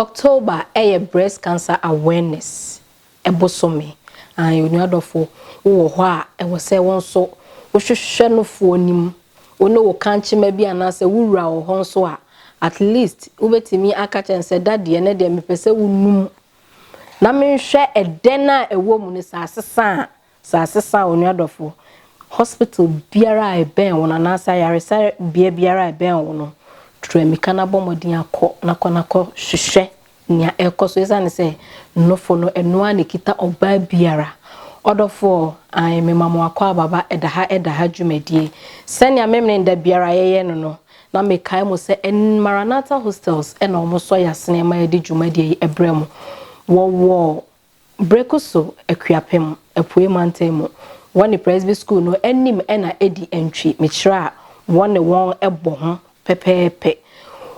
October yɛ breast cancer awareness bosome and onua dɔfo wo wɔ hɔ a ɛwɔ sɛ wo nso wo hwehwɛ no foɔ nim wo ne wo kankyema bi anaasɛ wo wura wɔ hɔ nso a at least wo bɛtumi aka kyɛn sɛ dadeɛ ɛnɛ deɛ mepɛ sɛ wo num na menhwɛ ɛdɛn a ɛwɔ mu no sɛ asesa a Sɛ asesa onua dɔfo, hospital biara a ɛbɛn wo no anaasɛ ayaresabea biara a ɛbɛn wo no, tu amika na bɔ mmɔden akɔ na kɔ na kɔ hwehwɛ nea ɛrekɔ so esiane sɛ nnofo no ɛno ara na ɛkita ɔbaa biara. Ɔdɔfoɔ, Ae, mema mo akwaaba ba ɛda ha ɛda ha dwumadie. Sɛnea Memene da biara yɛyɛ no no, na mekae mo sɛ ɛn Maranatha Hostels na wɔsɔ yɛn asene ma yɛde dwumadie yi brɛ mo. Wɔwɔ Bere ko so Akuapem Apuei Mantam mu wɔ ne Presby Sukuu no anim na edi ntwi mekyerɛ a wɔne wɔn bɔ ho pɛpɛɛpɛ.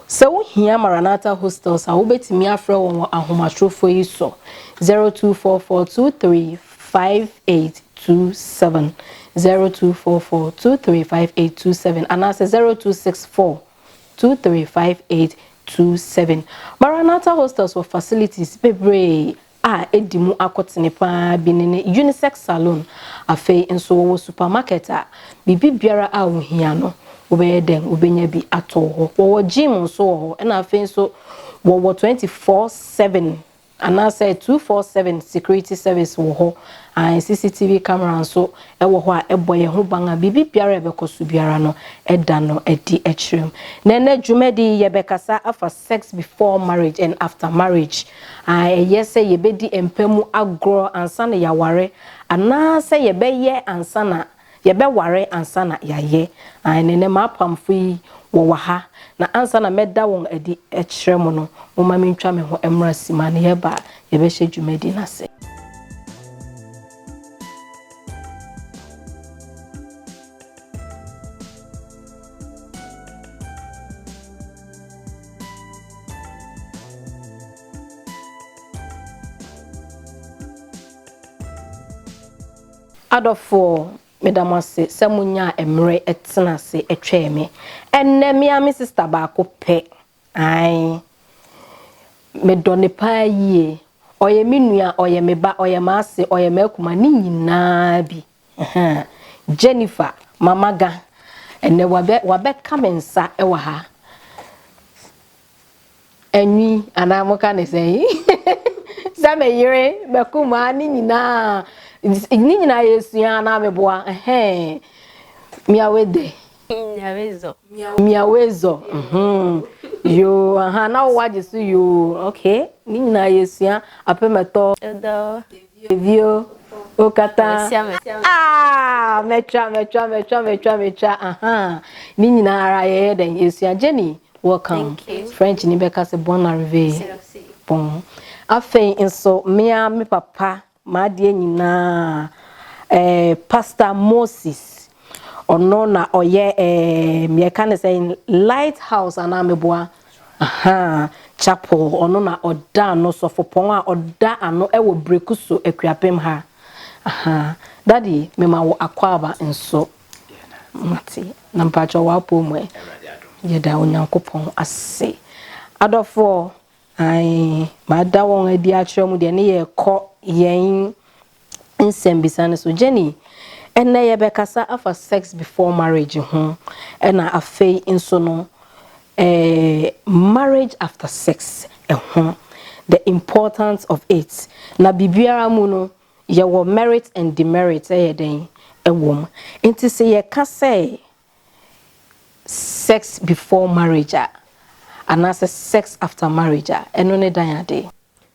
Sɛ wuhia Maranatha Hostels a, wubetumi afrɛ wɔn wɔ ahomatorofo yi so, 0244235827, 0244235827 anaasɛ 0264. 235827. Maranatha Hostels wɔ facilities bebree a edi mu akotene paa bi ne ne unisex salon. Afei nso wɔwɔ supermarket a biribi biara a wuhia no wobɛyɛ dɛn wobenya bi atɔw hɔ. Wɔwɔ gym nso wɔ hɔ ɛna afei nso wɔwɔ 24/7 Anaasɛ two four seven security service wɔ hɔ an CCTV camera nso wɔ hɔ a ɛbɔ yɛn ho ban a biribi biara a ɛbɛkɔ so biara no ɛda no adi kyerɛ mu. Na ɛnnɛ dwumadi yi yɛbɛkasa afa sex before marriage and after marriage a ɛyɛ sɛ yɛbɛdi mpa mu agorɔ ansa na yɛaware anaasɛ yɛbɛyɛ ansa na Yɛbɛware ansa na yɛayɛ. Aane, nnɛ m'apamfo yi wɔwɔ ha, na ansa na mɛda wɔn adi akyerɛ mo no, momma mentwa me ho mmra simma na yɛba a, yɛbɛhyɛ dwumadi no ase. Adɔfoɔ, meda mo ase sɛ monyaa mmerɛ tena ase twɛɛ me. Ɛnnɛ, me ara me sista baako pɛ. Ae. Medɔ no paa yie. Ɔyɛ me nua, ɔyɛ me ba, ɔyɛ m'ase, ɔyɛ m'akuma, ne nyinaa bi. Ahaa. Jennifer, Mama Ga, ɛnnɛ wabɛ, wabɛka me nsa wɔ ha. Anwi anaa moka ne sɛn? Sɛ me yere bɛko mu a ne nyinaa ne nyinaa yɛsua anaa meboa ɛhɛn miawedɛ. Miawezɔ. Miawezɔ yoo aha na wowagye so yoo okay ne nyinaa yɛsua apɛ mɛtɔ. Ɛdɔ. Bio, okata a, mɛtwa, mɛtwa, mɛtwa, mɛtwa, mɛtwa, aha. Ne nyinaa ara yɛyɛ dɛn? Yɛsua. Jenny, welcome. French ni bɛka sɛ bon arrivee. Bon. Afei nso, me ara me papa, m'adeɛ nyinaa, eh, Pastor Moses, Ɔno na ɔyɛ ɛɛm yɛka ne sɛ light house anaa meboa ahaa chapel ɔno na ɔda ano sɔfopɔn a ɔda ano ɛwɔ breku so akuapem ha ahaa daddy mema wo akwaaba nso mate na mpakyɛ w'apɔw mu ɛ yɛda onyankopɔn ase adɔfoɔ ae mada wɔn adi akyerɛ mu deɛ ne yɛkɔ yɛn nsɛmbisa no so. Jenny, Ndɛ yɛbɛkasa afa sex before marriage ho na afei nso no marriage after sex ho, the importance of it. Na biribiara mu no yɛwɔ merit and demerit yɛ dɛn wɔ mu. Ntsi sɛ yɛka sɛ sex before marriage a anaasɛ sex after marriage a, ɛno ne dan ade.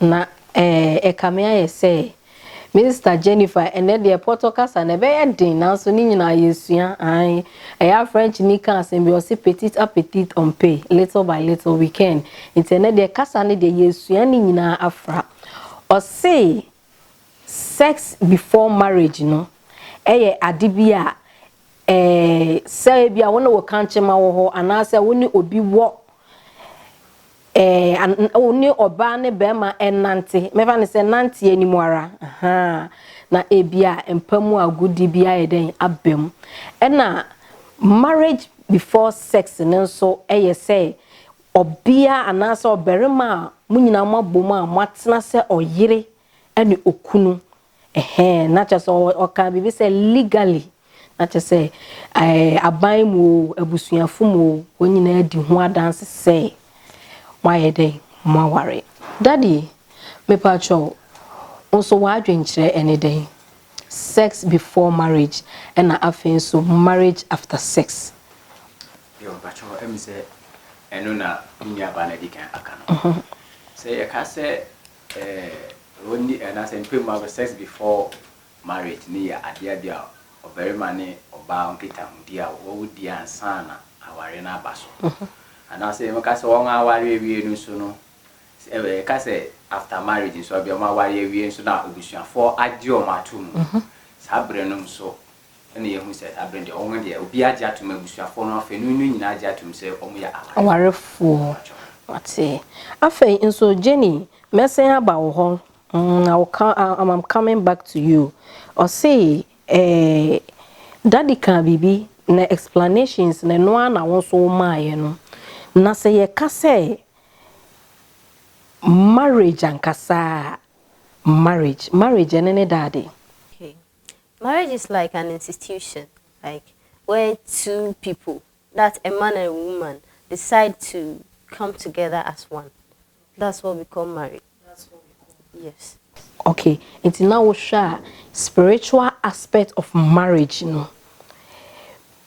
Na eh, ɛkame ayɛ sɛ Mister Jennifer, ɛnnɛ deɛ pɔtɔ kasa no ɛbɛyɛ den nanso ne nyinaa yɛsua, ae. Ɛyɛ a Frenchni ka asɛm bi ɔse petit à petit on peut, little by little we can. Nti ɛnnɛ deɛ kasa no deɛ yɛsua ne nyinaa afra. Ɔse Sex before marriage no yɛ ade bi a sɛ ebi a wo ne wo kankyema wɔ hɔ anaasɛ wo ne obi wɔ wo ne ɔbaa ne bɛrima nante mɛfa no sɛ nante anim ara na ebi a mpa mu agodi bi ayɛ dɛn aba mu ɛna marriage before sex no nso yɛ sɛ Ɔbea anaasɛ ɔbarima a mo nyinaa moabom a moatena sɛ ɔyere ne okunu. Ɛhɛɛ, na kyerɛ sɛ ɔkaa biribi sɛ legally, na kyerɛ sɛ ɛɛ aban mu o, abusuafo mu o, wɔn nyinaa di ho adanse sɛ moayɛ dɛn? Moaware. Daddy, mepakyɛw, wo nso w'adwenkyerɛ ne dɛn? Sex before marriage ɛnna afei nso marriage after sex. Yo, mpakyɛw ɛm sɛ ɛno na me nua baa no adi kan aka no. Sɛ yɛ ka sɛ eh, onni eh, anaasɛ mpɛ mu agorɔ, sex before marriage no yɛ adea bi a ɔbarima ne ɔbaa nkitahodi a wɔwo di ansa na awareɛ no aba so. Anaasɛ yɛ mɛka sɛ wɔn aware awie no nso no, sɛ eh, yɛ ka sɛ after marriage nso, ɛbia wɔn aware awie nso na abusuafoɔ agye wɔn ato mu. Saa berɛ no nso na yɛahu sɛ da bere deɛ wɔn deɛ obiara agye atom, abusuafoɔ no afanu no nyinaa agye atom sɛ wɔyɛ awarefoɔ. Awarefoɔ, wate. Afei nso Jenny, mɛsan aba wo hɔ, mm, I will come, I, I'm coming back to you. Ɔse, eh, Daddy kaa biribi, na explanations no, ɛno ara na wo nso womaaeɛ no. Na sɛ yɛka sɛ marriage ankasa a, marriage, marriage ɛne ne Daddy. Okay. Marriage is like an institution like where two people that a man and a woman decide to come together as one that's what we call marriage yes. Ok nti na wohwɛ a spiritual aspect of marriage no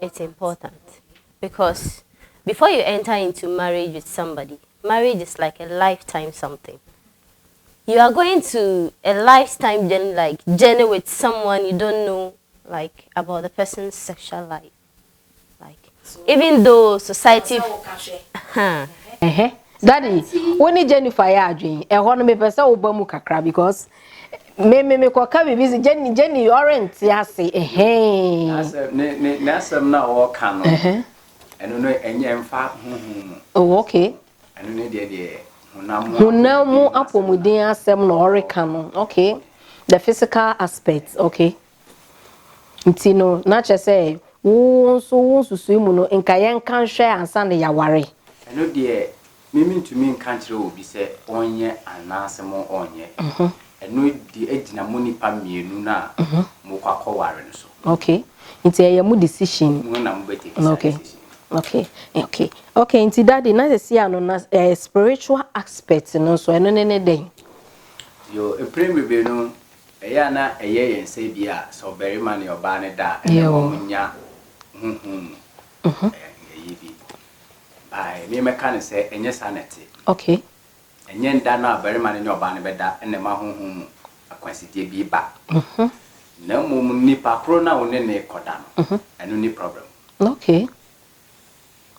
it's important because before you enter into marriage with somebody marriage is like a lifetime something you are going to a lifetime journey like journey with someone you don't know like about the person's sexual life like even though society huh. Uh-huh. Daddy, when Jennifer ya adwin, eh, one me pesa oba mu kakra because Me me me kɔ ka biribi si Jenny Jenny ɔre nte ase ɛhɛn. N'asɛm ne ne n'asɛm na ɔɔka no. Ɛno no ɛnyɛ ɛnfa huhu mu. Oh okay. Ɛno ne deɛ deɛ honam mu. Honam mu apɔmuden asɛm na ɔreka no okay the physical aspect okay. Nti no, na kyerɛ sɛ wo nso wo nsusui mu no nka yɛnka nhwɛ ansa na yɛaware. Ɛno deɛ me mentumi nka nkyerɛ obi sɛ ɔnyɛ anaasɛ mo ɔnyɛ. Ɛno deɛ gyina mo nnipa mmienu no a mokɔ akɔware no so. Okay, nti ɛyɛ mo decision. Mo na mobɛ take saa decision no. Okay, okay, okay, nti daddy na sɛsi a no na spiritual aspect no nso ɛno ne ne dɛn? Yoo, mpren bebree no Ɛyɛ a na ɛyɛ yɛn sɛ bi a sɛ ɔbarima ne ɔbaa no da a, ɛne Yɛwɔ. wɔn nya honhom mu Mhm. ɛ, ɛyi bi. By me mɛka no sɛ ɛnyɛ saa na ɛte. Okay. Ɛnyɛ nda no a barima no ne ɔbaa no bɛda na ɛma honhom mu akwansideɛ bi ba. Mhm. Na mmom nipa koro no a wo ne no rekɔda no, Mhm. ɛno ne problem. Okay.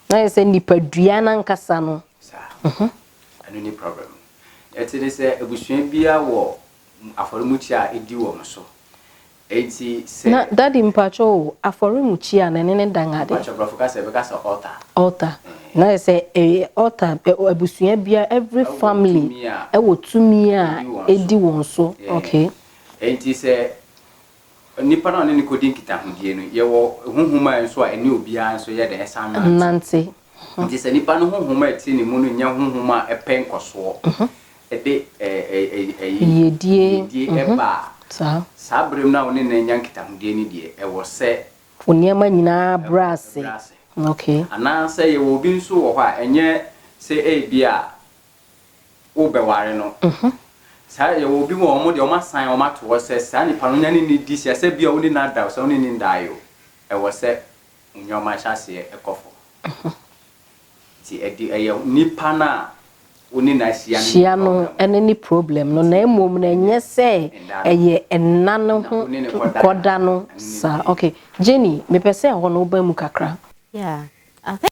Na ayɛ sɛ nipadua no ankasa no. Saa. Mhm. Ɛno ne problem no. Ɛte ne sɛ abusua biara wɔ afɔremukyia a edi wɔn so enti sɛ. Na daddy mpakyɛ o afɔremukyia no ɛne ne dan ade. Mpakyɛ brɔfo kasa yɛbɛka sɛ altar. Altar na ayɛ sɛ ɛyɛ altar abusua biara every family ɛwɔ tumi a edi wɔn so okay. Enti sɛ. Onipa no a ɔne no kɔdi nkitahodie no, yɛwɔ honhom a nso a ɛne obiara nso yɛ dɛn? Ɛsan nante. Nti sɛ nipa no honhom a ɛte ne mu no nyɛ honhom a ɛpɛ nkɔsoɔ, ɛde ɛyi, yiedie ba a, saa berɛ mu no a wo ne no anya nkitahodie no deɛ, ɛwɔ sɛ. Wo nneɛma nyinaa brɛ ase. Anaasɛ yɛwɔ obi nso wɔ hɔ a, ɛnyɛ sɛ ebia. wobɛware no. Saa yɛwɔ obi wɔ wɔn deɛ wɔn asan wɔn ato hɔ sɛ saa nipa no nya ne ne di sɛ sɛ bia wo ne no ada o sɛ wo ne no nda yɛ o ɛwɔ sɛ mo nneɛma ahyɛ aseɛ ɛkɔ fam nti ɛde ɛyɛ nipa no a wo ne no ahyia no hyia no ɛne ne problem no na mmom na ɛnyɛ sɛ ɛyɛ ɛna no ho kɔda no saa okay Jenny mepɛ sɛ ɛhɔ no woba mu kakra yeah I think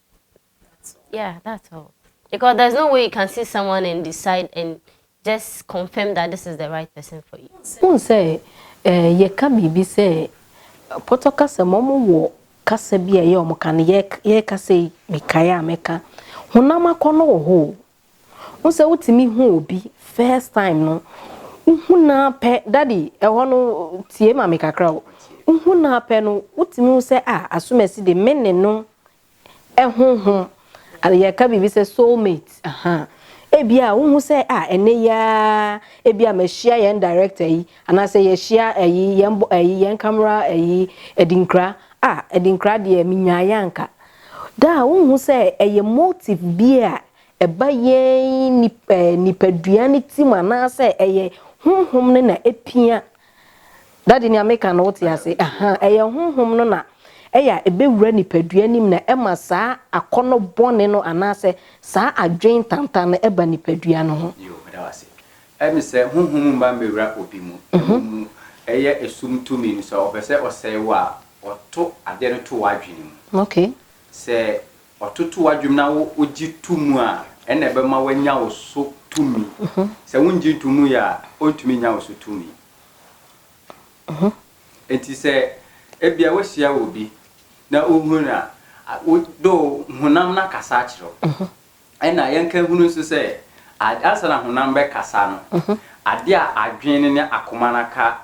Yeah, that's all. Because there's no way you can see someone and decide and just confirm that this is the right person for you. Who say, eh, ye ka bibi say, poto kasa momo wo kasa bi a ye omo ka no ye ye kasa yi mekae a meka honam akɔnɔ wɔ hɔ Wo sɛ wotumi hu obi first time no, wohu no ara pɛ, daddy ɛhɔ no tie ma me kakra o, wohu no ara pɛ no wotumi hu sɛ ah Asumasi de me ne no ɛhohom yɛka biribi sɛ soul mate aha ebi a wohu sɛ ah ɛnɛ yi ara ebi a mahyia yɛn director yi anaasɛ yɛhyia ɛyi yɛn ɛyi yɛn camera ɛyi Adinkra ah Adinkra deɛ menyaeɛ anka Daa wonhu sɛ ɛyɛ motive bi a ɛba yɛn nipadua no ti mu anaasɛ ɛyɛ honhom no na epia. Daddy nea meka no wote ase? Aha, ɛyɛ honhom no na ɛyɛ a ebewura nipadua no mu na ɛma saa akɔnnɔ bɔne no anaasɛ saa adwene tantan no ba nipadua no ho. Yoo, meda wo ase. Ɛne sɛ, honhom mma mmɛwura obi mu. Mmom no, ɛyɛ esum tumi no. Sɛ ɔpɛ sɛ ɔsɛe wo a, ɔto adeɛ no to w'adwene mu. Sɛ ɔto to w'adwene mu na wogye to mu a, ɛnna ɛbɛma wanya wo so tumi. Sɛ wongye nto mu yɛ a, ɔntumi nnya wo so tumi. Enti sɛ ebia woahyia obi na wohunu no a, though honam no akasa akyerɛ wo, Ɛnna yɛnka nhunu nso sɛ, ad, ansa na honam bɛkasa no, adeɛ a adwene no ne akoma no aka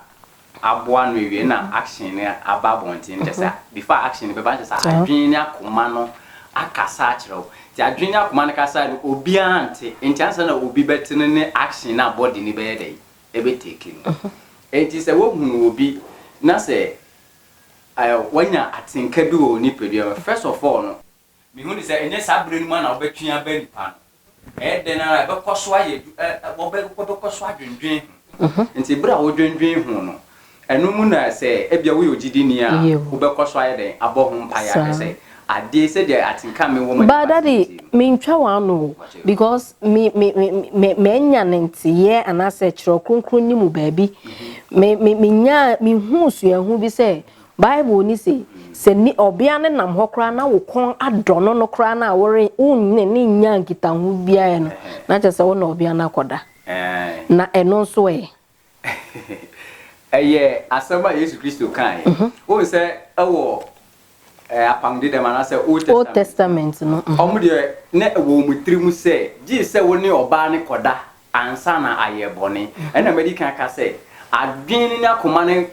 aboa ano awie na action no aba abɔnten no, kyerɛ sɛ, before action no bɛba no, kyerɛ sɛ adwene ne akoma no akasa akyerɛ wo. Nti adwene ne akoma no kasaeɛ no, obiara nte. Nti ansa na obi bɛte no ne action no a body no bɛyɛ dɛn? Ɛbɛtake no. Nti sɛ wohunu obi na sɛ, ɛ, wanya atenka bi wɔ wo nipadua mu a, first of all no, Mehu no sɛ ɛnyɛ saa berɛ no mu ara na wobɛtwe aba nnipa no. Ɛyɛ dɛn ara a, ɛbɛkɔ so ayɛ adwu, ɛ, ɛ, wɔbɛ, wɔbɛkɔ so adwendwen ho. Nti berɛ a wodwendwen ho no, ɛno mu na sɛ ebia woyɛ ogyidini a, wobɛkɔ so ayɛ dɛn? Abɔ ho mpaeɛ ahwɛ sɛ adeɛ, sɛdeɛ atenka a mewɔ mu a But ɛmfa daddy, asɛmti no. mentwa w'ano o, because me, me, me, me, manya ne nteyɛɛ anaasɛ Twerɛ Kronkron no mu baabi, me, me, menyaa, mehuu suahu bi sɛ, Bible no se, Sɛ ni ɔbea no nam hɔ koraa na wo kɔn adɔ no no koraa no a, wore, wone no nnya nkitaho biara ɛ no, na kyerɛ sɛ wo ne ɔbea no akɔda. Na ɛno nso ɛ? Ɛyɛ asɛm a Yesu Kristo kaeɛ. Wohu sɛ wɔ Apam Dedam anaasɛ Old Testament no, wɔn deɛ na ɛwɔ wɔn tirim sɛ gye sɛ wo ne ɔbaa no kɔda Ansa na ayɛ bɔne. Ɛna madi kan aka sɛ adwene no ne akoma no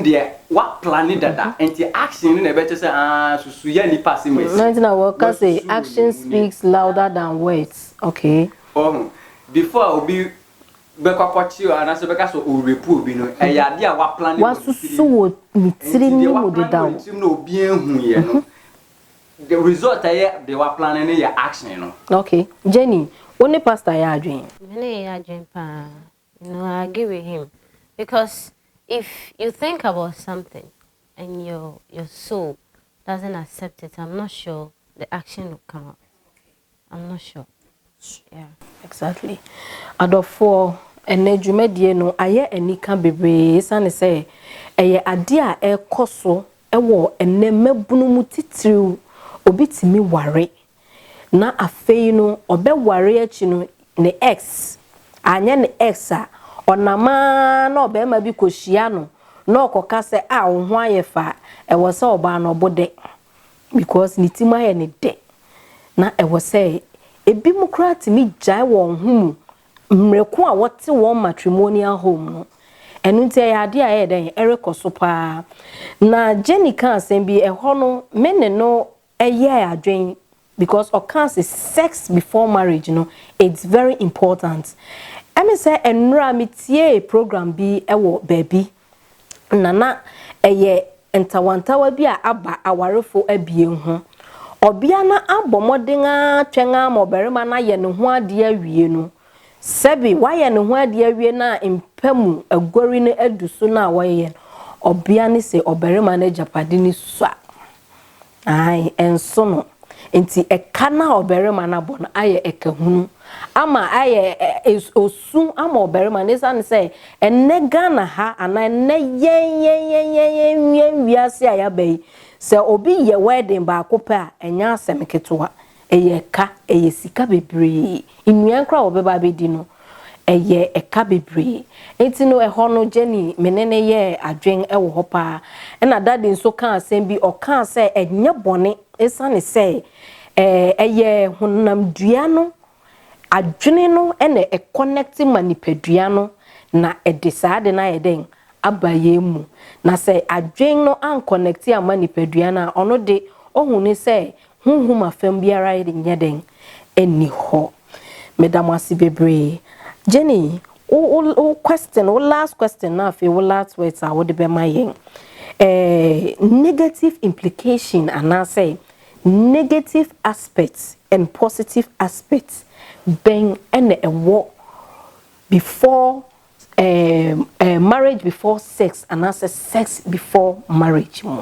deɛ wɔaplane dada, enti action no na ɛbɛkyerɛ sɛ aa susu yɛ nnipa asɛm asi. Ɛno nti na wɔka sɛ action speaks louder than words, okay. Wahu? Before a obi bɛkɔ akɔkye anaasɛ bɛka sɛ ɔrepu obi no, ɛyɛ adeɛ a wɔaplane wɔ ne tirim. Wɔasusu wɔ ne tirim no mu dedaw. Enti deɛ wɔaplane wɔ ne tirim no a obiara nhuiɛ no, The result a ɛyɛ deɛ w'aplanne no yɛ action no. Ok Jenny, wo ne pastor yɛ adwen? Me ne yɛ adwen paa, you know I agree with him because if you think about something and your your soul doesn't accept it I'm not sure the action will come out. I'm not sure. Yeah. Exactly. Adɔfoɔ, ɛnɛ dwumadie no ayɛ anika bebree esiane sɛ ɛyɛ adeɛ a ɛrekɔ so wɔ ɛnɛ mmabunu mu titiriw. Obi tumi ware na afei no ɔbɛware akyi no ne ex, anyɛ ne ex a, ɔnam ara na ɔbarima bi kɔhyia no na ɔkɔka sɛ a wo ho ayɛ fɛ a, ɛwɔ sɛ ɔbaa no ɔbo dɛ. because ne ti mu ayɛ ne dɛ na ɛwɔ sɛ ebinom koraa tumi gyae wɔn ho mu mmerɛ ko a wɔte wɔn matrimonial home no ɛno nti ɛyɛ adeɛ a ɛyɛ dɛn ɛrekɔ so paa na Jenny ka asɛm bi ɛhɔ no me ne no ɛyɛ adwen because ɔka se sex before marriage no it's very important ɛme sɛ ɛnora metiee program bi ɛwɔ baabi na na ɛyɛ ntawantawa bi a aba awarefo abien ho. Ɔbea no abɔ mmɔden ara twɛn ara ma ɔbarima no ayɛ ne ho ade awie no, sɛbe wayɛ ne ho ade awie no a mpa mu aguari no adu so no a wɔyɛ no, ɔbea no sɛ ɔbarima no agyapade no sua. Aane, ɛnso no. Enti ɛka no a ɔbarima no abɔ no ayɛ ɛka hunu ama ayɛ osu ama ɔbarima no ɛsiane sɛ ɛnnɛ Ghana ha anaa ɛnnɛ yɛn yɛn yɛn yɛn yɛn yɛn wiase a yɛaba yi sɛ obi yɛ wedding baako pɛ a ɛnyɛ asɛm ketewa Ɛyɛ ɛka, ɛyɛ sika bebree. Nnuan koraa a wɔbɛba abɛdi no, ɛyɛ ɛka bebree. Enti no, ɛhɔ no, Jenny, me ne no yɛɛ adwene wɔ hɔ pa ara. Ɛnna Daddy nso kaa asɛm bi, ɔkaa sɛ ɛnyɛ bɔne esiane sɛ ɛyɛ honamdua no adwene no na ɛkɔnɛkte ma nipadua no na ɛde saa ade no ayɛ dɛn? Aba yɛn mu. Na sɛ adwene no ankɔnɛkte amma nipadua no a, ɔno de, ohu no sɛ Honhom afam biara nyɛ dɛn? Ɛnni hɔ. Meda mo ase bebree. Jenny, wo, wo, wo question, wo last question na afei wo last words a wode bɛma yɛn. Eh, negative implication anaasɛ negative aspect and positive aspect bɛn ɛna ɛwɔ before eh, eh, marriage before sex anaasɛ sex before marriage mu?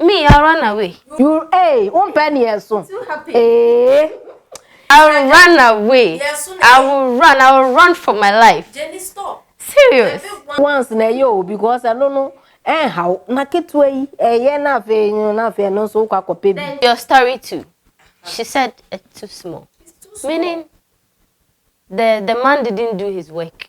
Me ara na wei. You ee wo mpɛ ne yɛ so ee. I will run away I will run I will run for my life. Jenny stop. Serious. Once na ɛyɛ o because ɛno no ɛnha wo na ketewa yi ɛyɛ na afei no na afei ɛno nso wokɔ akɔpɛ bi. Your story too she said it's too small meaning the the man didn't do his work.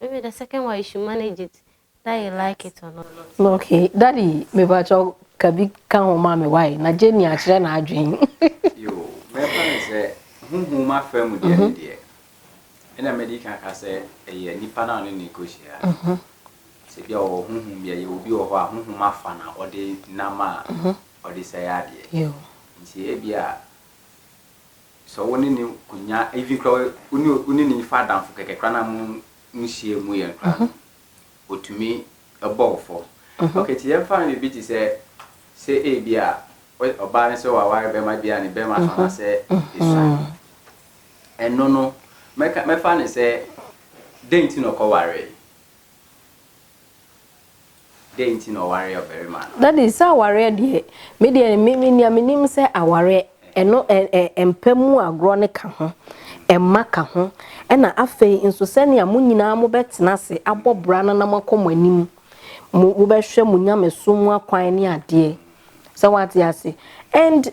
Maybe the second one you should manage it that you like it or not. Okay, daddy, me ba cho kabi ka ho ma me why na Jenny akyerɛ na adwen. Yo, me fa ne sɛ huhu ma fa mu deɛ ne deɛ. Ɛna me di kan ka sɛ ɛyɛ nipa na ɔne ne ko hyia. Mhm. Sɛ bi a ɔwɔ huhu bi ɛyɛ obi wɔ hɔ a huhu ma fa na ɔde nam a ɔde sɛ yɛ adeɛ. Yo. Nti ebi a Sɛ wo ne no konya even koraa wo ne wo ne no fa adamfo kɛkɛ koraa na mo mo hyia mu yɛ koraa no otumi bɔ wo fɔ. Okay ti yɛn fa no biribi te sɛ sɛ ebi a ɔbaa no sɛ waware bɛrima bi a ne bɛrima so anasɛ esuan ɛno no mɛka mɛfa no sɛ dɛn ti na ɔkɔ waree. Dɛn nti na ɔwaree ɔbarima no? Daddy, sɛ awareɛ deɛ, me deɛ me me nea menim sɛ awareɛ ɛno ɛ ɛ ɛmpa mu agorɔ no ka ho, ɛmma ka ho, ɛna afei nso sɛnea mo nyinaa mobɛtena ase abɔ bra no na moakɔ mo anim, mo mobɛhwɛ mo nyamesom mu akwan ne adeɛ, sɛ woate ase, and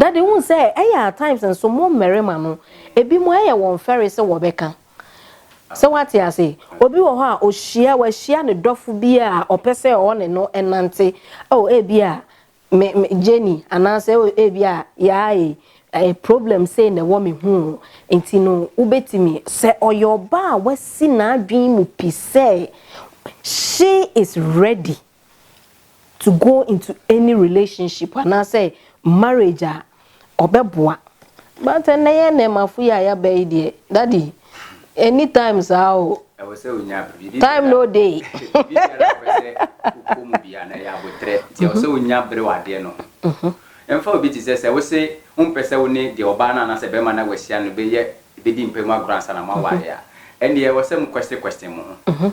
Daddy wohu sɛ ɛyɛ at times nso mo mmarima no ebi mo ɛyɛ wɔn fɛre sɛ wɔbɛka sɛ wate ase obi wɔ hɔ a ohyia wahyia ne dɔfo bi a ɔpɛ sɛ ɔne no ɛnante oh ebi a me me Jenny anaasɛ oh ebi a yaa e ɛyɛ problem sei na ɛwɔ me ho nti no wobɛtumi. Sɛ ɔyɛ ɔbaa a wasi n'adwene mu pi sɛ she is ready. to go into any relationship anaasɛ marriage a ɔbɛboa but ɛnɛ yɛ nɛɛmafo yi a yɛaba yi deɛ daddy anytime saa o ɛwɔ sɛ onya biribi time no day biribi biara a wopɛ sɛ wokɔ mu bia na ɛyɛ abotrɛ nti ɛwɔ sɛ wonya bere wɔ adeɛ no ho ɛmfa obi te sɛ sɛ wo se wompɛ sɛ wo ne deɛ ɔbaa no anaasɛ bɛrima no a wahyia no bɛyɛ bɛdi mpa mu agorɔ ansa na moaware a ɛnneɛ ɛwɔ sɛ mo question question mo ho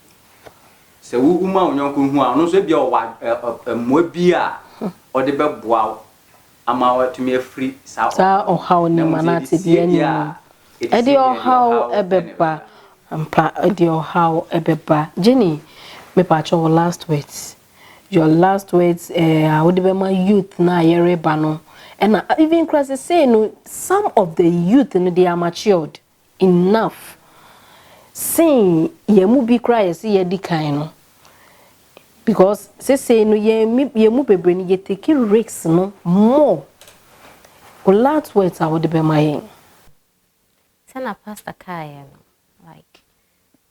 Sɛ wuhu ma wo yɔnko hu a, ɔno nso ebia ɔwɔ mmoa bi a ɔde bɛboa wo ama watumi afiri saa ɔhaw no mu. Saa ɔhaw no mu anaa tebea no mu no, ɛde ɔhaw bɛba ampa, ɛde ɔhaw bɛba. Jenny, me pakyɛ wo last words, your last words eh, a wode bɛma youth no a yɛreba no, ɛna even kura sesei no, some of the youth no, they are matured. enough sen yɛn mu bi koraa a yɛse yɛadi kan no because sesei no yɛn mi yɛn mu bebree no yɛ take risks no more o last words a wode bɛma yɛn. Sɛna pastor kaeɛ no like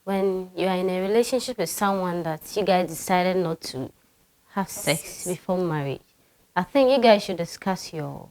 when you are in a relationship with someone that you guys decided not to have sex before marriage I think you guys should discuss your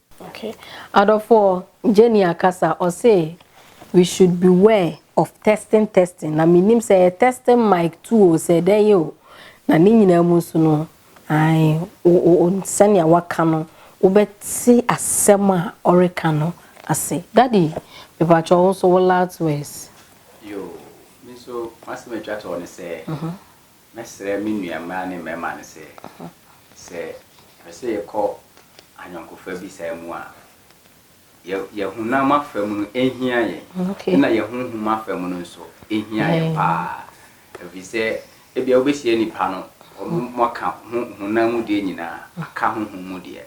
Ok adɔfoɔ Jenny akasa ɔse we should beware of testing testing na menim sɛ ɛyɛ testing mic too o sɛ dɛn yɛ o na ne nyinaa mu nso no ae o sɛnea waka no wobɛte asɛm a ɔreka no ase daddy mepakyɛw wo nso wo last words. Yoo, me nso m'asɛm a ɛtwa toɔ ne sɛ. Mɛsrɛ me nua mmaa ne mmarima no sɛ, sɛ yɛpɛ sɛ yɛkɔ ayɔnkofa bi saa mu a, yɛn honam afa mu no hia yɛn, ɛnna yɛn honhom afa mu no nso hia yɛn paa. Efisɛ ebia wobehyia nnipa no, wɔaka honam mu deɛ nyinaa aka honhom mu deɛ.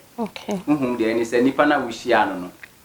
Honhom deɛ ne sɛ nnipa no a wohyiaa no no,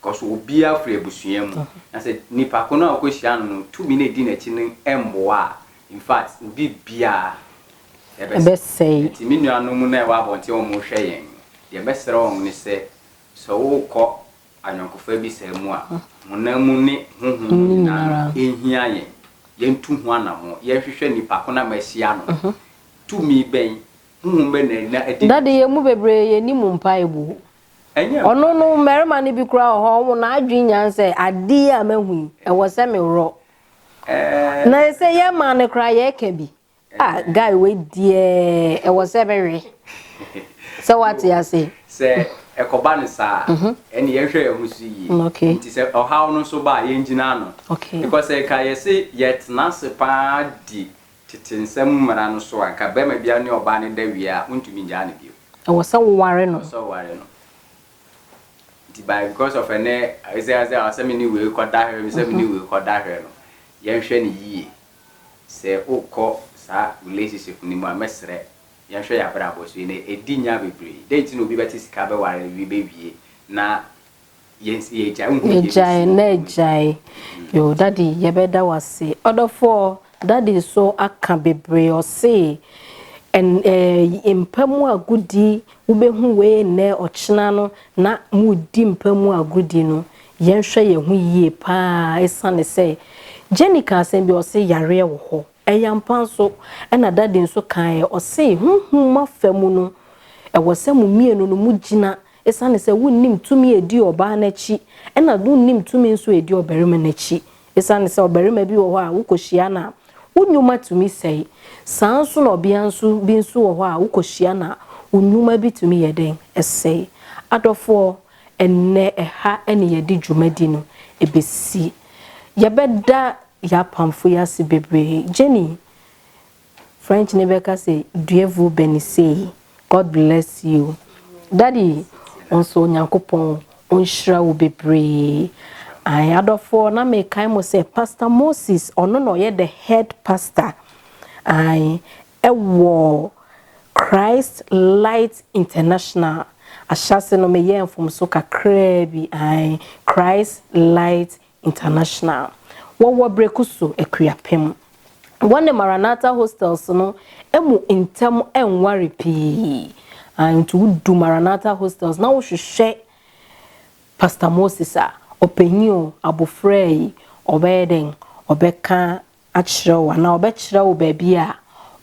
Because obiara firi abusua mu. Na sɛ nipa ko no a wokɔhyia no no tumi no a ɛdi n'akyi no mmoa a, in fact, obi biara ɛbɛsɛe. Nti me nuanom no a ɛwɔ abɔnten a wɔrehwɛ yɛn no, deɛ mɛsrɛ wɔn ne sɛ, sɛ worekɔ ayɔnkofa bi saa mu a, honam mu ne honhom mu nyinaa no, ɛhia yɛn. Yɛntu ho anammɔn. Yɛnhwehwɛ nipa ko no a mahyia no no, tumi bɛn, honhom bɛn na ɛdi n'akyi. Dade, yɛn mu bebree, yɛnnim mpaeɛbuo. Ɔno no, mmarima no bi koraa wɔ hɔ a, wɔn adwene nya no sɛ, Ade yi a mahu yi, ɛwɔ sɛ meworɔ. Na sɛ yɛn mmaa no koraa, yɛka bi. Ah, guy wei deɛ, ɛwɔ sɛ mewe. Sɛ wate ase. Sɛ ɛkɔba no saa a, mhm. ɛnna yɛhwɛ yɛn ho so yie. Mm, Nti sɛ ɔhaw no nso ba a, yɛngyina ano. Because nka yɛse yɛtena ase paa di Tete nsɛm mmara no so anka barima biara ne ɔbaa no da wie a, wontumi ngyaa no bio. Ɛwɔ sɛ woware no. Ɛwɔ sɛ woware no. Nti by because of ɛnɛ ɛsiane sɛ ɔsɛ me ne wei kɔda hwɛ me sɛ me ne wei kɔda hwɛ no, yɛnhwɛ no yie. Sɛ wokɔ saa relationship no mu a, mɛsrɛ yɛnhwɛ yɛn abrabɔ so. Ɛnɛ ɛdi nya bebree. Dɛn nti na obi bɛte sika bɛware wie bɛwie na Yɛgyae na agyae yoo daddy yɛbɛda wase ɔdɔfoɔ daddy nso aka bebree ɔse ɛn ɛɛ mpa mu agodi wobɛhu wei nnɛ ɔkyena no na modi mpa mu agodi no yɛnhwɛ yɛn ho yie paa ɛsiane sɛ Jenny ka asɛm bi ɔse yareɛ wɔ hɔ Ɛyɛ ampa nso, ɛna Daddy nso kaeɛ, ɔse, Honhom afa mu no, ɛwɔ sɛ mo mmienu no mo gyina, ɛsiane sɛ wonnim tumi a ɛdi ɔbaa no akyi, ɛna wonnim tumi nso a ɛdi ɔbarima no akyi, ɛsiane sɛ ɔbarima bi wɔ hɔ a wokɔhyia no a, wo nnwuma tumi sɛe, saa ara nso na ɔbea nso bi nso wɔ hɔ a wokɔhyia no a, wo nnwuma bi tumi yɛ dɛn? Ɛsɛe. Adɔfoɔ, Ɛnnɛ, ɛha na yɛde dwumadi no besi. Yɛbɛda yɛn apamfo yi ase bebree. Jenny, French no bɛka sɛ Dieu vous benissez, God bless you. Daddy, wo nso Onyankopɔn ɔnhyira wo bebree. Ae, adɔfoɔ, na mekae mo sɛ Pastor Moses, ɔno na ɔyɛ the head pastor. Ae, Ɛwɔ Christ Light International, ahyɛase no meyɛɛ mfomso kakraa bi, ae, Christ Light International. Wɔwɔ Brekusu, Akuapem. Wɔne Maranatha Hostels no mu ntam nware pii, ae, nti wodu Maranatha Hostels na wohwehwɛ Pastor Moses a, ɔpanyin o, abofraa yi, ɔbɛyɛ dɛn, ɔbɛka akyerɛ wo anaa ɔbɛkyerɛ wo baabi a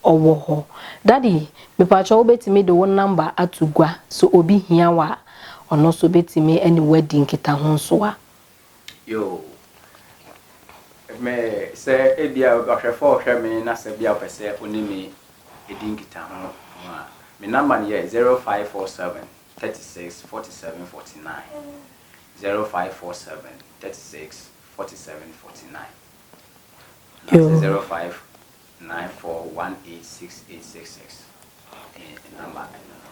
ɔwɔ hɔ. Daddy, mepakyɛw wobɛtumi de wo nɔmba ato gua sɛ obi hia wo a, ɔno nso bɛtumi ne wo adi nkitahosoa. Yoo, me, sɛ ebia ɔhwɛfoɔ rehwɛ me na sɛ bia ɔpɛ sɛ ɔne me di nkitaho ho a, me nɔmba no yɛ zero five four seven thirty six forty seven forty nine, zero five four seven thirty six forty seven forty nine.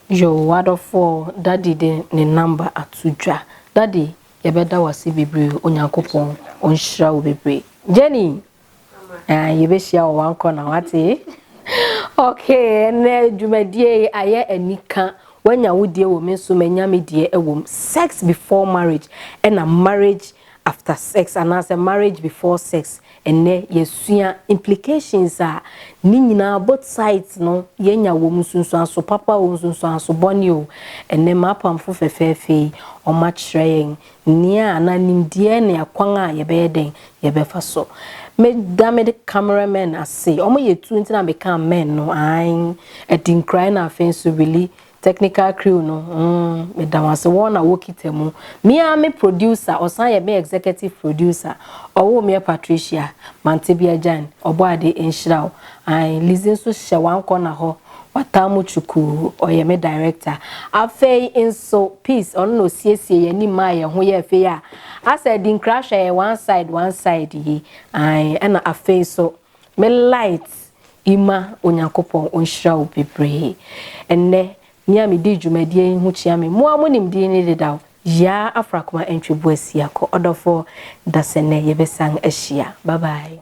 Yo w'adɔfoɔ daddy de ne number ato dwa daddy yɛbɛda wo ase bebree Onyankopɔn ɔnhyira wo bebree Jenny ah yɛbɛhyia wɔ one corner wate okay ɛnɛ dwumadie yi ayɛ anika wanya wo die wɔ me nso manya me die ɛwɔ mu sex before marriage ɛna marriage after sex anaasɛ marriage before sex ɛnnɛ yɛasua implications a ne nyinaa both sides no yɛanya wɔ mu, nsunsuanso papa o, nsunsuanso bɔne o. Ɛnnɛ m'apamfo fɛfɛɛfɛ yi wɔakyerɛ yɛn nea anaa nimdeɛ ne akwan a yɛbɛyɛ dɛn yɛbɛfa so. Meda me camera men ase, wɔyɛ tuo nti na meka amen no, aane, Adinkra ɛna afei nso Willie Technical crew no mm meda wɔn ase wɔn na wɔkita mu. Me ara me producer ɔsan yɛ me executive producer ɔwoo meɛ Patricia Mantebea Gyan Ɔbɔade nhyira wo ae Lizzy nso hyɛ one corner hɔ wataa mu kyukuu ɔyɛ me director afei nso Peace ɔno na ɔsiesie yɛn anim maa yɛn ho yɛɛ fɛ yi a asɛ Adinkra hwɛ yɛn one side one side yi ae ɛna afei nso me light Ima Onyankopɔn ɔnhyira wo bebree. Ɛnnɛ, me a medi dwumadie yi ho kyea me, mo ara monim din no dedaw, Yaa Afrakoma Antwi Boasia Kɔ. Ɔdɔfoɔ, dasɛ nnɛ yɛbɛsan ahyia. Bye bye.